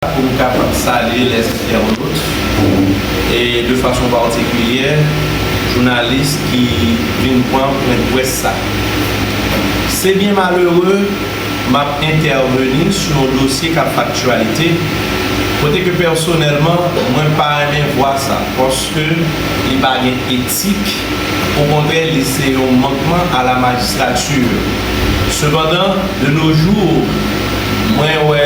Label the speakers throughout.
Speaker 1: pou m kapab salye les internautes e de fason patikilyè jounalis ki vin pran pwen dprès sa. Se byen malere m ap entèveni sou yon dosye k ap fè aktyalite kote ke pèsonèlman mwen pa renmen vwa sa paske li pa gen etik okontrè li se yon mankman a la magistrature. Sepandan de nos jours mwen wè.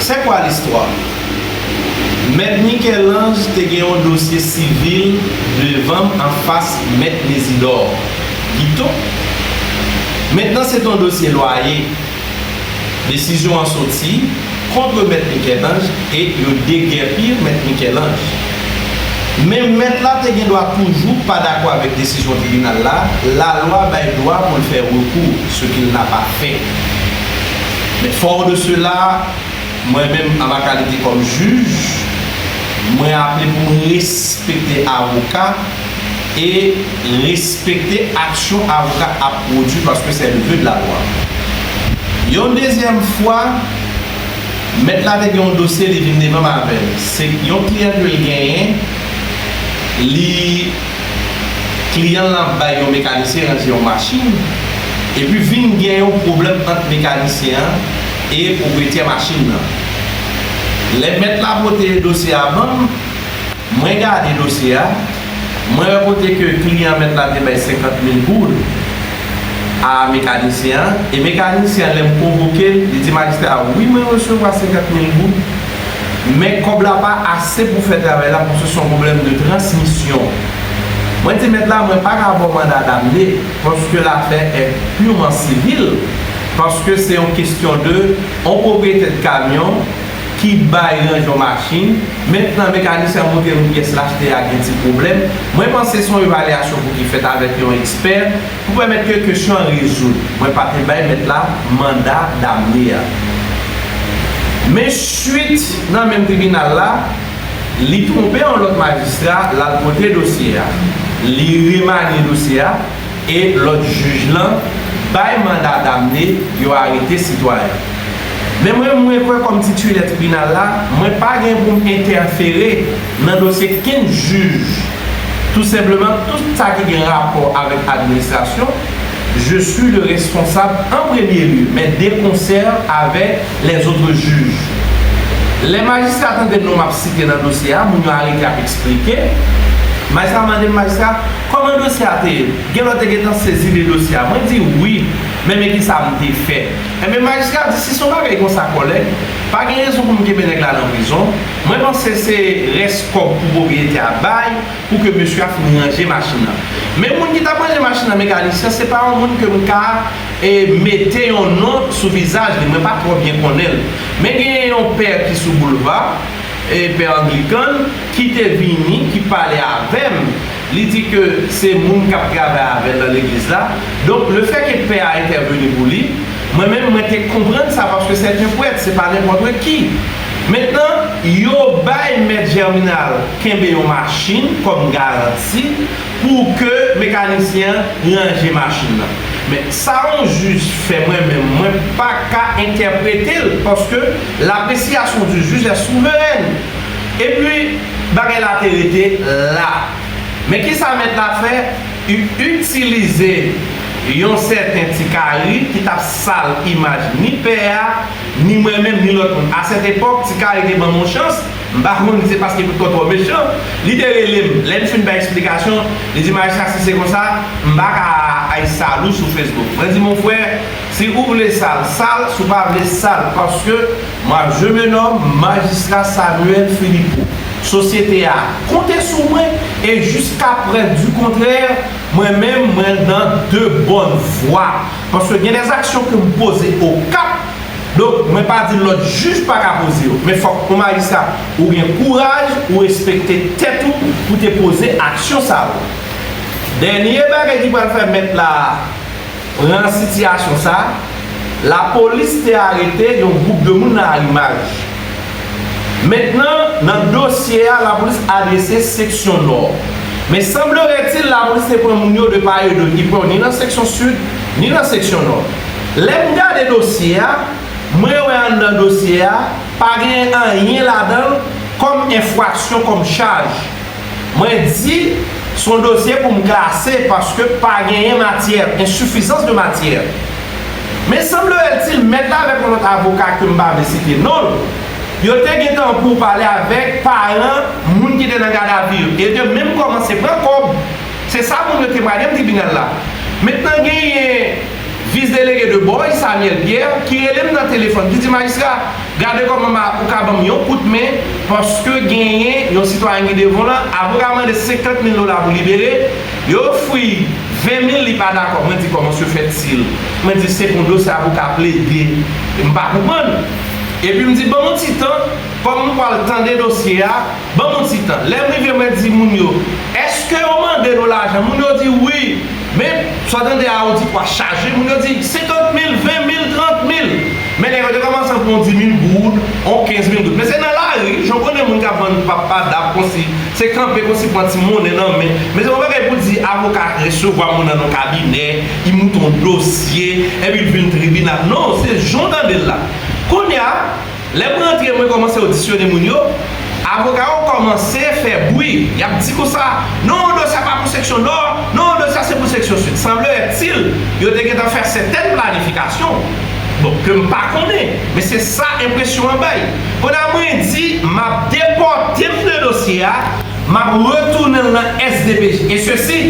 Speaker 1: C'est quoi l'histoire? Mèt Michel-Ange te gen yon dosye sivil devanm anfas Mèt Mésidor Guiteau. Mentnan se t yon dosye lwaye. Desizyon an soti kontre Mèt Michel-Ange e yo degèpi Mèt Michel-Ange. Men Mèt la te gen dwa toujou pa dakò avèk desizyon tribinal la, lalwa bay dwa pou l fè rekou, ce qu'il n'a pas fait. Men fort de cela, mwen menm a ma kalite kòm jij, mwen aple pou m respekte avoka e respekte aksyon avoka ap pwodui paske sè le vœu de la loi. Yon dezyèm fwa, mèt la te gen yon dosye li vin devan m avè l, se yon kliyan ke l genyen, li. Kliyan lan ap bay yon mekanisyen ranje yon machin, epi vin gen yon pwoblèm ant mekanisyen an e pwopriyetè machin lan. Lè mèt la pote dosye a ban m, mwen gade dosye a, mwen wè kote ke kliyan mèt la te bay 50 mil goud a mekanisyen an, e mekanisyen an lè m konvoke l, li di majistra a, wi mwen resevwa 50 mil goud. Men kòb la pa ase pou fè travay la paske son pwoblèm de transmisyon. Mwen di mèt la mwen paka baw manda damne paske lafè è purman sivil paske se yon kestyon de yon pwopriyetè de kamyon ki bay range yon machin mentnan mekanisyen an monte yon pyès lachte a gen ti pwoblèm mwen panse son evalyasyon pou ki fèt avèk yon ekspè Pou pèmèt ke kesyon an rezoud, mwen pa te bay mèt la manda damne a. Men suit nan menm tribinal la, li twonpe yon lòt majistra, l al pote dosye a, li remanye dosye a e lòt jij lan bay manda damne, yo arete sitwayen. Men mwen, mwen kwè kòm titilè tribinal la, mwen pa gen pou m entèfere. Nan dosye 15 jij, tou senpleman tout sa ki gen rapò avèk administrasyon, je suis le responsable en premier lieu, men de concert avec les autres juges. Lè majistra tande non m ap site nan dosye a, moun yo arete ap eksplike, majistra mande m, majistra, kòman dosye a te ye? Gen lòt te gentan sezi de dosye a. Mwen di, wi, men men ki sa m te fè. Enben, majistra di, si se yon bagay konsa kòlèg, pa gen rezon pou m kenbe nèg la nan prizon, Mwen panse se rès kòb pou pwopriyetè a bay pou ke mesye a fin ranje machin nan. Men moun ki tap ranje machin nan Mekanisyen se pa yon moun ke m ka mete yon non sou vizaj li, mwen pa twò byen konnen l. Men genyen yon pè ki sou boulva, pè anglikan, ki te vini, ki pale avè m. Li di ke se moun kap travay avèl nan legliz la, donk le fè ke pè a entèveni pou li, mwen menm mwen te konprann sa paske sèt en pwèt, se pa nenpòtre ki. Mentnan, yo bay mèt Jèminal kenbe yon machin kòm garanti pou ke mekanisyen an ranje machin nan. Men, sa yon jij fè mwen menm mwen pa ka entèprete l paske l'appréciation du juge est souveraine. Epi, bagay la te rete la. Men ki sa mèt la fè? I itilize yon sèten ti kari ki t ap sal imaj ni pè a, ni mwen menm, ni lòt moun. A sèt epòk, ti kari te ban m yon chans, m pa konn si se paske Pitkò twò mechan, li te rele m. Lè n fin bay esplikasyon, li di m, Ayisha, si se konsa, m pa ka ay sal ou sou Facebook. Mwen di, Monfrè, si ou vle sal, sal, si w pa vle, sal. Paske. Map jwe menòm majistra Samuel Philippot. Sosyete a konte sou mwen e jiska prèv di kontrè mwen menm mwen nan de bòn vwa paske gen de zaksyon ke m poze Okap donk mwen pa di lòt jij pa ka poze yo men fòk yon majistra ou gen kouraj ou respekte tèt ou pou te poze aksyon sa yo. Dènye bagay ki pral fè mèt la Pran sitiyasyon sa, lapolis te arete yon gwoup de moun nan Arimaj. Mentnan, nan dosye a, lapolis adrese seksyon Nò. Men sanbleretil lapolis te pran moun yo de pa e dotipò, ni nan seksyon Sid, ni nan seksyon Nò. Lè m gade dosye a, mwen wè anndan dosye a, pa genyen anyen ladan l kòm enfwaksyon, kòm chaj. Mwen di s on dosye pou m klase paske pa genyen matyè, ensoufizans de matyè. Men sanblerèltil mèt la avèk yon lòt avoka ke m pa vle site non l, yo te gen tan pou pale avèk paran moun ki te nan gadavi yo e te menm kòmanse pran kòb. Se sa moun yo temwanye m tribinal la. Mentnan genyen. Vice délégué de Boy, Samuel Pierre, ki rele m nan telefòn, ki di, Majistra, gade kòman ou ka ban m yon kout men, paske genyen yon sitwayen ki devan w lan, avoka a mande 50 mil dola pou libere, yo ofri l 20 mil, li pa dakò. Mwen di, Kòman se fèt si l. Mwen di, Se pou dosye avoka a plede. M pa konprann. Epi m di, Ban m yon ti tan, kòm m pral tande dosye a. Ban m yon ti tan. Lè m rive mwen di moun yo, Èske yo mande nou lajan? Moun yo di, Wi. Men, sa w tande a, ou di pwa chaje. Moun yo di, Senkant mil, ven mil, trant mil. Men nèg yo te kòmanse ap pran yon dimil goud, yon kenz mil goud. Men se nan lari, jan w konnen moun k ap vann papa, dab konsi, se kanpe konsi pran ti monnen nan men. Men se yon bagay pou di avoka resevwa moun nan yon kabinè, li moute yon dosye, epi li vin tribinal. Non, se jan w tande l la. Kounye a. Lè m rantre mwen kòmanse odisyone moun yo, avoka yo kòmanse fè bwi, y ap di konsa, non dosye a pa pou seksyon Nò, non dosye a se pou seksyon Sid. Sanblerètil, yo te gentan fè sètèn planifikasyon, bon, ke m pa konnen, men se sa enpresyon an bay. Pandan mwen di m ap depòte m de dosye a, m ap retounen l nan SDPJ, e sesi,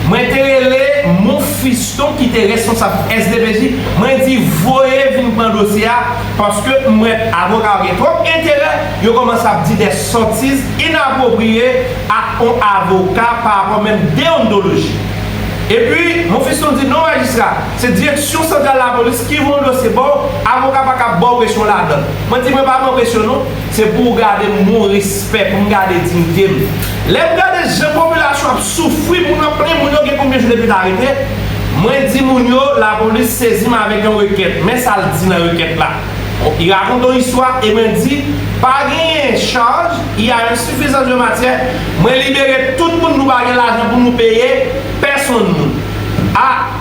Speaker 1: mwen te rele Mon Fiston ki te responsab SDPJ, mwen di voye vin pran dosye a, Paske m wè avoka yo gen twòp enterè, yo kòmanse ap di dè sotiz inapwopriye ak on avoka pa rapò menm deontoloji. Epi, Monfiston di, non majistra, se Direksyon Santral Lapolis ki voye yon dosye ba w, avoka pa ka ap ba w presyon ladan l. Mwen di mwen pa pran presyon non. Se pou ou gade m moun respè, pou m gade dignite m. Lè m gade jan popilasyon ap soufri, moun ap plenyen, moun yo gen konbyen jou depi yo arete, mwen di moun yo lapolis sezi m avèk yon rekèt. Men sa l di nan rekèt la. Li rakonte yon istwa e mwen di, pa genyen chaj, il y a une suffisance de matière, mwen libere tout moun nou pa gen lajan pou nou peye pèsonn moun. A!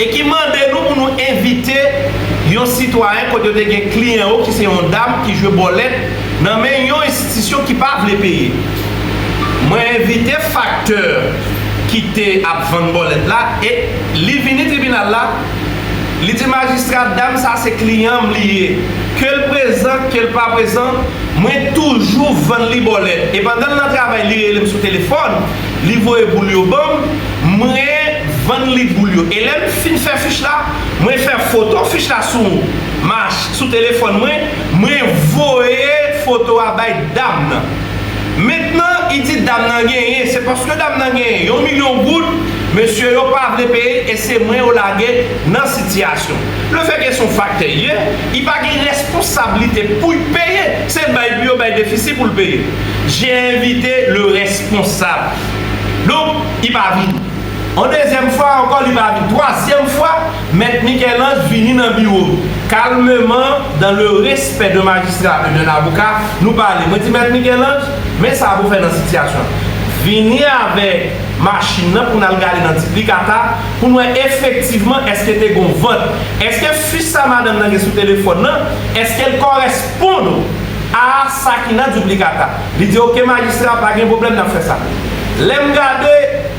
Speaker 1: e ki mande nou pou nou envite yon sitwayen kote yo te gen kliyan yo ki se yon dam ki jwe bòlèt nan men yon enstitisyon ki pa vle peye. Mwen envite faktè ki te ap vann bòlèt la e li vini tribinal la, li di majistra dam sa se kliyan m li ye, ke l prezan, ke l pa prezan, mwen toujou vann li bòlèt e pandan l nan travay li rele m sou telefòn, Li voye boul yo banm, mwen vann li boul yo. E lè m fin fè fich la, mwen fè foto fich la sou mach, sou telefòn mwen, mwen voye foto a bay dam nan. Mentnan, i di dam nan genyen, se paske dam nan genyen yon milyon goud, mesye yo pa vle peye l e se mwen yo lage nan sitiyasyon. Lefètke se yon faktè i ye, i pa gen responsablite pou y peye, se bay pou yo bay defisi pou l peye. J'ai invité le responsable Donk, li pa vini On dezyèm fwa ankò li pa vini Twazyèm fwa, Mèt Michel-Ange vini nan biwo m Calmement, dans le respect d'un magistrat et d'un avocat, nou pale Mwen di Mèt Michel-Ange, men sa pou fè nan sitiyasyon an Vini avèk machin nan pou n al gade nan diplikata Pou n wè efektivman èske te gen yon vant Èske fis sa madanm nan gen sou telefòn nan, èske l kòrèspon. Pon nou. Aa sa ki nan duplicata. Li di ok majistra pa gen pwoblèm nap fè sa. Lè m gade,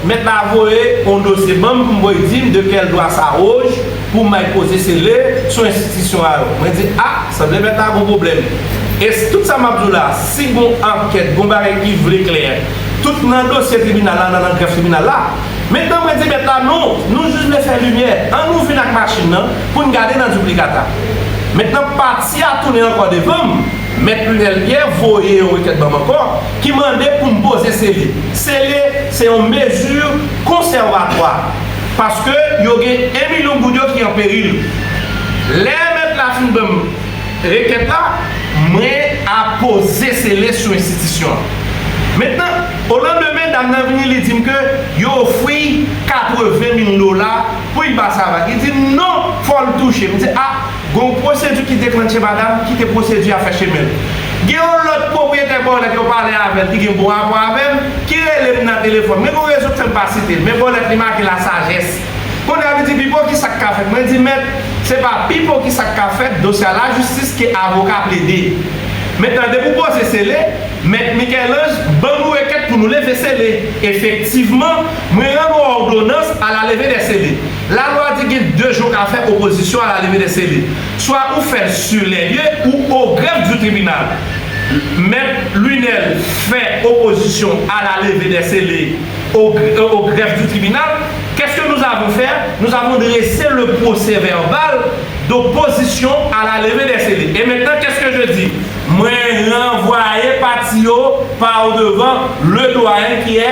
Speaker 1: mèt la voye on dosye ban m pou m voye di m de kèl dwa sa oj pou m al poze sele sou enstitisyon a yo. Mwen di a, sanble mèt la gon pwoblèm. E s tout sa map di w la, si gon ankèt, gon bagay ki vle klè, tout nan dosye tribinal la, nan nan grèf tribinal la. Mentnan mwen di mèt la non, nou jis vle fè limyè, an nou vin ak machin nan pou n gade nan duplicata. Mentnan pati a tounen ankò devan m, Mèt Lunel Pierre voye yon rekèt ban m ankò ki mande pou m poze sele. Sele se yon mezi konsèvatwa paske yo gen 1 milyon goud yo ki an peril. Lè mèt la fin ban m rekèt la, mwen ap poze sele sou enstitisyon an. Mentnan, olandemen dam nan vini li di m ke yo ofri 80 mil dola. Pouy ba sa va ki dim non fòl touche m di a gon pwosedi ki deklantche madam kite pwosedi a fè chemenl gen yon lòt pwopriyetè bòlèt yo pale avèl ki gen bon rapò avèm ki relem nan telefòn men gon rezon k fèm pa sitel men bòlèt li make la sajès kounya li di pipo kisak ka fèt mwen di mèt se pa pipo kisak ka fèt dosye a lajistis ke avoka plede mentnan depi w poze sele mèt Michel-Ange ban nou rekèt pou nou leve sele efektivman Mwen rann ou òdonans a la leve dè sele. La lwa di gen de je w ka fè opozisyon a la leve dè sele. Swa ou fè l sur les lieux ou au greffe du tribunal. Mèt Lunel fè opozisyon a la leve dè sele au greffe du tribunal. Qu'est-ce que nous avons faire? Nous avons dresser le procès verbal d'opposition à la levée des scellés. Et maintenant, qu'est-ce que je dis? Mwen ranvwaye pati yo par devant le doyen ki è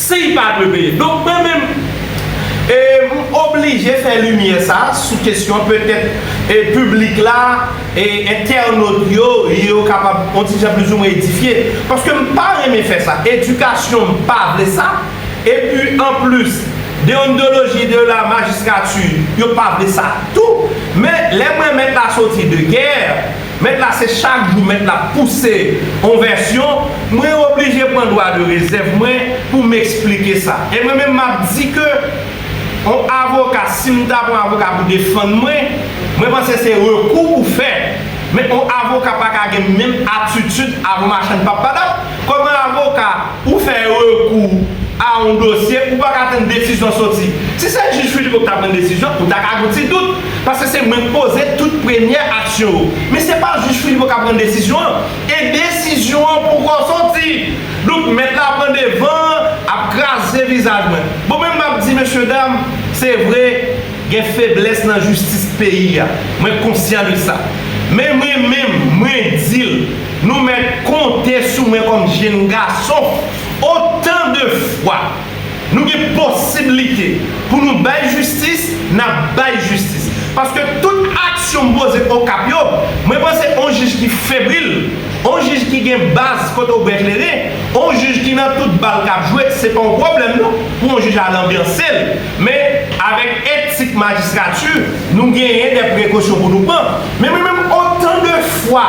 Speaker 1: Si li pa dwe peye. Donk mwen menm e m oblije fè limyè sa sou kesyon petèt e piblik la e entènot yo yo kapab on ti jan plizoumwen edifye. Paske m pa renmen fè sa. Edikasyon m pa vle sa. Epi anplis deontdoloji de la majistrati yo pa vle sa tou. Men lè mwen mèt la soti de gè. Mèt la se chak jou mèt la pouse on vèsyon, mwen oblije pran dwa de rezèv mwen pou m esplike sa. E mwen menm m ap di ke on avoka, si m ta pran avoka pou defann mwen, mwen panse se rekou pou fè. Men on avoka pa ka gen menm atitid a on machann pap padap. Kòm avoka, ou fè rekou a yon dosye, ou pa ka tann desizyon soti. Si se jij Phillipo ki t ap pran desizyon, ou ta ka gen yon ti dout, paske se mwen k poze tout premyè aksyon yo. Men se pa jij Phillipo k ap pran desizyon an, e desizyon an poko soti. Donk, mèt la pran devan an, ap kraze vizaj mwen. Bon, men m ap di, mesyedam, se vre, Gen feblès nan jistis peyi a. Mwen konsyan de sa. Men mwen menm, mwen di l, nou mèt konte sou mwen kòm jenn gason, otan de fwa nou gen posiblite pou nou bay jistis, n ap bay jistis. Paske tout aksyon m poze Okap yo, mwen panse on jij ki febril, on jij ki gen baz kote w byen klere, on jij ki nan tout bal k ap jwe, se pa on pwoblèm non pou on jij al anbyanse l. Men, avèk èd Tit Majistrati, nou genyen dè prekosyon pou nou pran. Men mwen menm, otan de fwa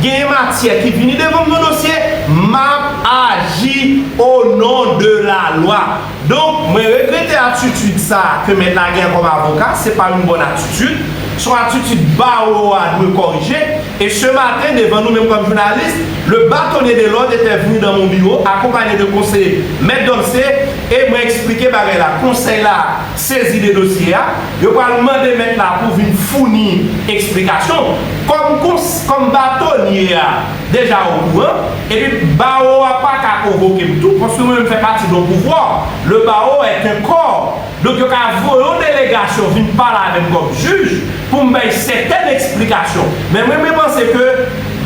Speaker 1: genyen matyè ki vini devan m nan dosye, m ap aji o non de lalwa. Donk, mwen regrete atitid sa a ke mèt la genyen kòm avoka, se pa yon bòn atitid. Se yon atitid bawo a dwe kòrije. E se maten, devan nou menm kòm jounalis, le batonye de lòd etè vni dan mon biwo, akonpanye de konseye Mèt Dolce, E mwen eksplike bagay la, konsèy la sezi de dosye a, yo pral mande mèt la pou vin founi eksplikasyon. Kòm kons, kòm batonye a deja okouran, epi bawo a pa ka konvoke m tou, paske mwen menm m fè pati don pouvwa, le bawo est un corps, donk yo ka voye yon delegasyon vin pale avè m kòm jij pou m bay sètèn eksplikasyon. Men mwen mwen panse ke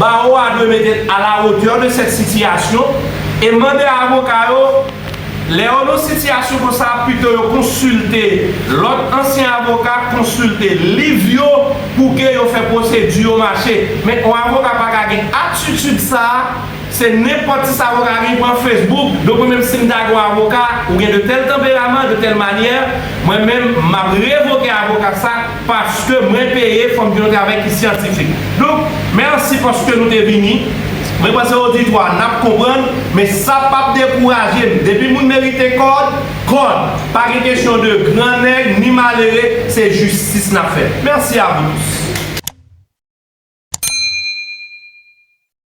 Speaker 1: bawo a dwe mete a la hauteur de cette situation e mande avoka yo Lè yo nan sitiyasyon konsa, pito yo konsilte lòt ansyen avoka, konsilte liv yo pou ke yo fè pwosedi yo mache. Men on avoka pa ka gen atitid sa a, se nenpòt ti sa avoka a gen, pran Facebook, donk mwen menm si m ta gen on avoka, ou gen de tèl tanperaman, de tèl manyè, mwen menm m ap revoke avoka sa, Paske mwen peye fòk gen yon travay ki syantifik. Donk, mèsi paske nou te vini. Mwen
Speaker 2: panse oditwa a nap konprann, men sa pap dekouraje n. Depi moun merite kòd, kòd. Pa gen kesyon de gran nèg ni malere, se jistis nap fè. Mèsi a vou tous.